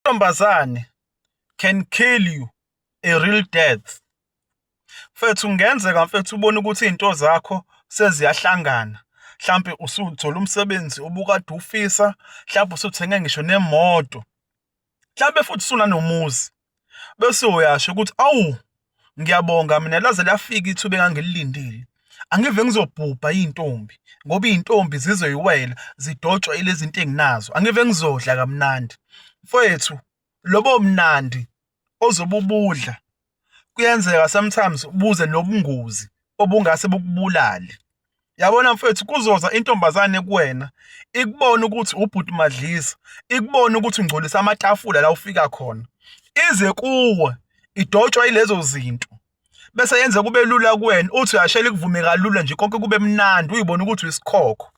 Intombazane can kill you a real death. Mfethu kungenzeka mfethu ubone ukuthi izinto zakho seziyahlangana mhlampe usuthola umsebenzi obukade ufisa mhlampe usuthenge ngisho nemoto mhlampe futhi usunanomuzi bese uyasho ukuthi awu ngiyabonga mina laze lafika ithuba engangililindile angive ngizobhubha iy'ntombi ngoba iy'ntombi zizoyiwela zidotshwa ilezi zinto enginazo angive ngizodla kamnandi mfowethu lobo mnandi ozobe ubudla kuyenzeka sometimes buze nobungozi obungase bukubulale yabona mfethu kuzoza intombazane kuwena ikubona ukuthi ubhuti madlisa ikubona ukuthi ungcolisa amatafula la ufika khona ize kuwe idotshwa ilezo zinto bese yenza kube lula kuwena uthi uyashela ikuvume kalula nje konke kube mnandi uyibona ukuthi uyisikhokho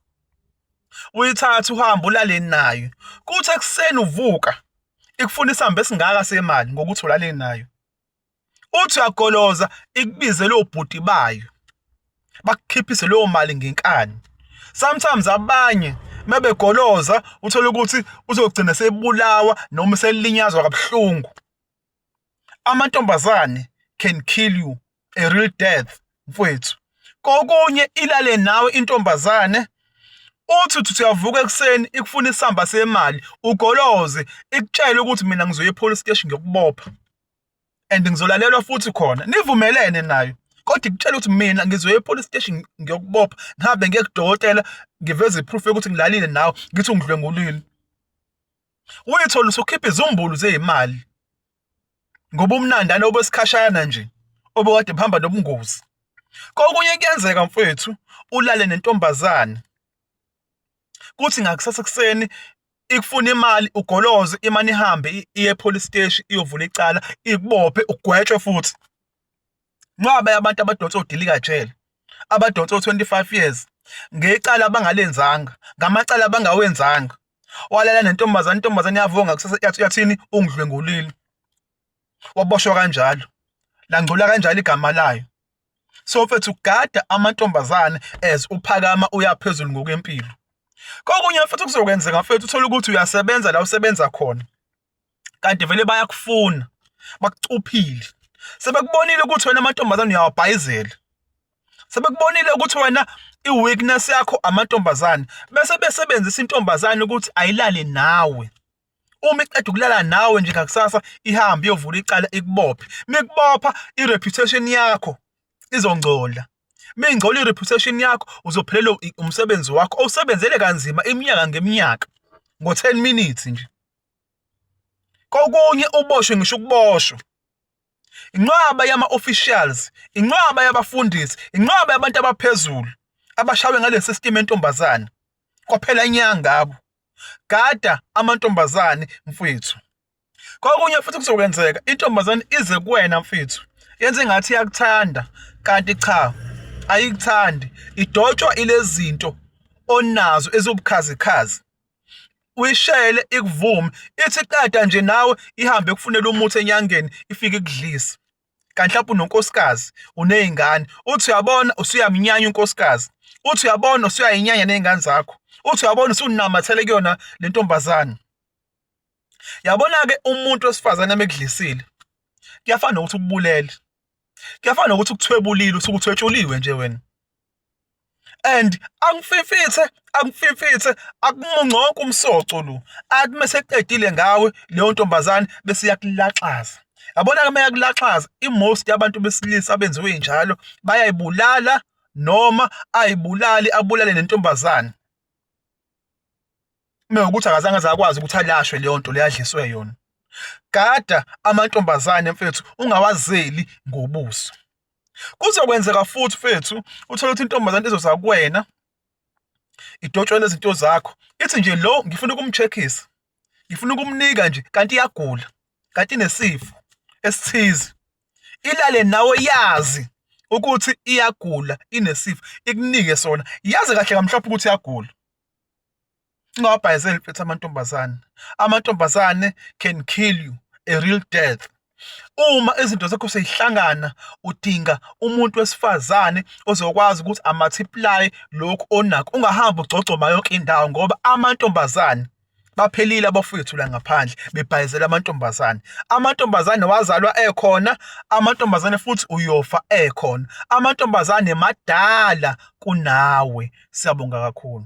uyithatha uhamba ulale nayo kuthi ekuseni uvuka ikufuna isamba esingaka semali ngokuthi ulale nayo uthi uyagoloza ikubizele obhuti bayo bakukhiphise leyo mali ngenkani sometimes abanye mebegoloza uthole ukuthi uzogcina sebulawa noma selinyazwa kabuhlungu amantombazane can kill you a real death mfwethu kokunye ilale nawe intombazane uthi uthi uyavuka ekuseni ikufuna isamba semali ugoloze ikutshele ukuthi mina ngizoya epolice station ngiyokubopha and ngizolalelwa futhi khona nivumelene nayo kodwa ikutshela ukuthi mina ngizoya epolice station ngiyokubopha ngihambe ngiye kudokotela ngiveze iproof yokuthi ngilalile nawe ngithi ungidlwengulile uyithola usukhipha izumbulu zeyimali ngoba umnandana obesikhashana nje obekade buhamba nobungozi kokunye kuyenzeka mfethu ulale nentombazane kuthi ngakusasa kuseni ikufuna imali ugoloze imane ihambe iye police steshi iyovula icala ikubophe ugwetshwe futhi nqwabe abantu abadonsa odilika jele abadonsa o-25 years ngecala abangalenzanga ngamacala abangawenzanga walala nentombazane intombazane yavonga kusasa yathi yathini ungidlwengulile waboshwa kanjalo langcola kanjalo igama layo so mfethu gada amantombazane as uphakama uyaphezulu ngokwempilo kokunye futhi kuzokwenzeka mfethu uthole ukuthi uyasebenza la usebenza khona kanti vele bayakufuna bakucuphile sebekubonile ukuthi wena amantombazane uyawabhayizela sebekubonile ukuthi wena i-weakness yakho amantombazane bese besebenzisa intombazane ukuthi ayilale nawe uma iqeda ukulala nawe nje ngakusasa ihambe iyovula icala ikubophe mikubopha i-reputation yakho izongcola mingcola i-reputation yakho uzophelelwa umsebenzi wakho owusebenzele kanzima iminyaka ngeminyaka ngo-10 minutes nje kokunye uboshwe ngisho ukuboshwa inqwaba yama-officials inqwaba yabafundisi inqwaba yabantu abaphezulu abashawe ngalesi system entombazane kwaphela inyanga ngabo gada amantombazane mfwethu kokunye futhi kuzokwenzeka intombazane ize kuwena mfethu yenze ingathi iyakuthanda kanti cha ayikuthandi idotshwa ilezinto onazo eziwubukhazikhazi uyishele ikuvume ithi qeda nje nawe ihambe kufunela umuthi enyangeni ifike ikudlise kanti mhlawumbe unonkosikazi uney'ngane uthi uyabona usuyamnyanya unkosikazi uthi uyabona usuyayinyanya ney'ngane zakho uthi uyabona usunamathele kuyona le ntombazane yabona-ke umuntu wesifazane mekudlisile kuyafana nokuthi ukubulele kuyafana nokuthi ukuthwebulile usuke uthwetshuliwe nje wena and angififithe angififithe akumungconke umsoco lo athi meseqedile ngawe leyo ntombazane bese yakulaxaza yabona ke meyakulaxaza imost yabantu besilisa abenziwe njalo bayayibulala noma ayibulali abulale nentombazane mewukuthi akazange zakwazi ukuthi alashwe leyo nto leyadliswe yona gada amantombazane mfethu ungawazeli ngobuso Kuzokwenzeka futhi mfethu uthole ukuthi intombazane izoza kuwena idotshwe nezinto zakho ithi nje lo ngifuna ukumcheckisa ngifuna ukumnika nje kanti iyagula kanti inesifo esithize ilale nawe yazi ukuthi iyagula inesifo ikunike sona yazi kahle kamhlophe ukuthi iyagula Ungawabhayizeli mfethu amantombazane. Amantombazane can kill you a real death. Uma izinto zakho seyihlangana udinga umuntu wesifazane ozokwazi ukuthi amathiplaye lokhu onakho ungahambi ugcogcoma yonke indawo ngoba amantombazane baphelile abafowethu la ngaphandle bebhayizela amantombazane amantombazane wazalwa ekhona amantombazane futhi uyofa ekhona amantombazane madala kunawe siyabonga kakhulu